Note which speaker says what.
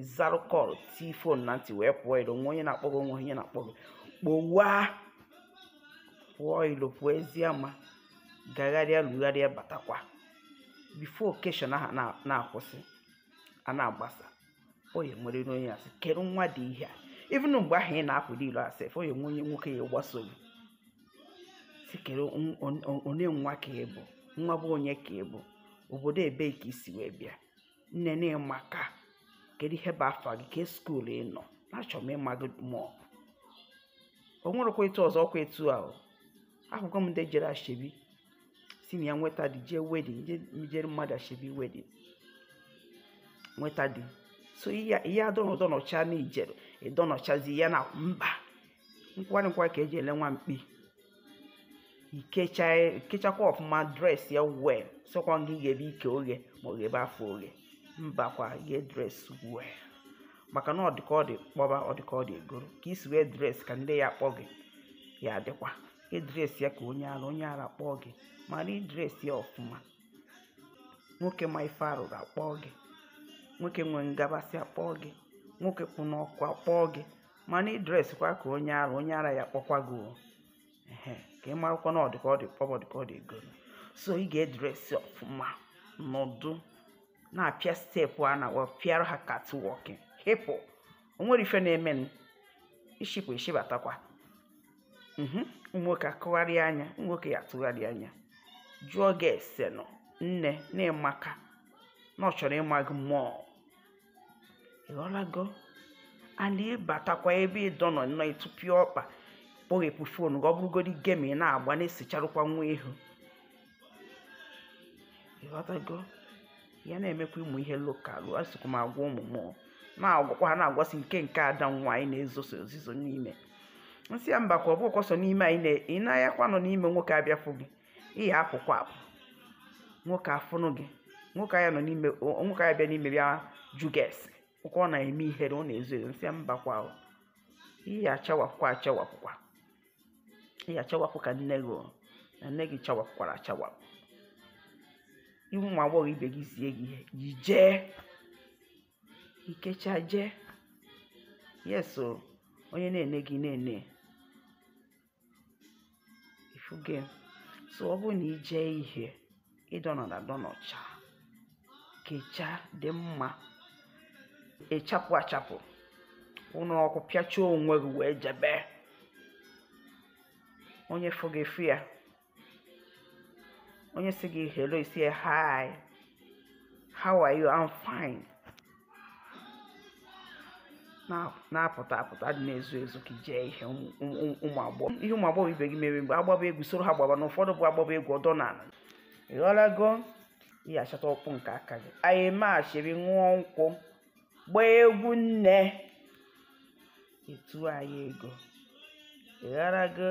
Speaker 1: ịzarụ kọl tii fon na ntị wee pụọ ilo nwee onye na-akpọ gị o nwee onye na-akpọ gị kpọwa pụọ ilo pụọ ezi ama gagharịa lugharịa batakwa bifo okeshọn ahụ na- na-akwụsị a na-agbasa onye nwere ire onye asị kedu nwa dị ihe a even mgbe ahụ ị na-apụ n'ilo a sef o nwee onye nwoke ya-agbaso gị sị kedu on- on- on- onye nwa ka ị bụ nwa bụ onye ka ị bụ obodo ebee ka i si wee bịa nne na ị maka kedu ihe bụ afa gị kee skuul ị nọ achọrọ m ịma gị mọọ o nwerekwa etu ọzọ ọkwa etu a o afụgo m ndị jere ashebi si na ya nweta di jee wedin jere mmadụ ashebi wedin nweta di so ị ya-adọnọ dọnọcha na i jere ịdọnọchazi ya na mba nkwari nkwa ka e ji ele nwa mkpi i kecha i kechakwa ọfụma dresịa wel sịkwa gị ghebe ike oghe ma ọ ghebe afọ oghe mbakwa ghe dres wel maka na ọ dị ka ọ dị kpọba ọ dị ka ọ dị egoro ka i si wee dres ka ndị ya-akpọ gị ya-adịkwa ị dresịa ka onye ara onye ara kpọọ gị mana ị dresịa ọfụma nwoke ma ife arụrụ akpọọ gị nwoke nwee ngabasị akpọọ gị nwoke kwụ n'ọkụ akpọọ gị mana ị dreskwa ka onye ara onye ara ya-akpọkwa gị o. Ehe, ka ị marakwa na ọ dị ka ọ dị kpọba ọ dị ka ọ dị ego so ị ga-edresi ọfụma nọdụ na-apịa steepụ a na-apịara ha katwọkị hịpụ o nwere ife na-eme m ishipụ ishibatakwa Mhm. nwoke atụgharịa anya nwoke ya-atụgharị anya jụọ gị ese nọ nne na ị maka na ọ chọrọ ịma gị mọọ ị ghọtago a na-abatakwa ebe ị dọnọ nnọọ ị tụpịa ọkpa kpọghepụ fon gị ọ bụrụgodi gem ị na-agba na-esicharụkwa nwa ihu ị ghọtago ya na-emekwa ụmụ ihe lokalụ asịkwa m agwa ụmụ m na-agwakwa ha na-agwasị nke nke ada nwaanyị na-ezoso ozizo n'ime m sị ya mbakwa ọ bụkwa sọ n'ime anyị na- ị na-ayakwa nọ n'ime nwoke abịa fụ gị ị ya-apụkwa apụ nwoke afụnụ gị nwoke ya-anọ n'ime nwoke ya-abịa n'ime bịa jụ gị ese ọkwa ọ na-eme ihere ọ na-ezo ezo m sị ya mbakwa o ị ya-achawapụkwa achawapụkwa ị ya-achawapụ ka nne gị o, na nne gị chawapụkwara achawapụ ị wụ nwa agbọghọ ibe gị zie gị ihe gị jee i kechaa jee yes o onye na-ene gị na-ene ifu gị so ọ bụrụ na i je ihe ị dọnọda dọnọcha kechaa dị mma ị chapụ achapụ ụnụ ọkụ pịachaa onwe gị wee jebe onye fụ gị fụ ya onye sị gị hello ị sị ya hi how are you i'm fine Na- na-apụta apụta dị na-ezu ezu ka i jee ihe ụmụ- ụmụ- ụmụ agbọghọ ihe ụmụ agbọghọ ibe gị mere mgbe a gbaba egwu soro ha gbaba na ụfọdụ bụ a gbaba egwu ọ dọ na ala ị ghọlago ihe a chọta ọkpụ nke aka gị anyị machiri ṅụọ nkwụ gbaa egwu nne etu anyị ego ị ghọlago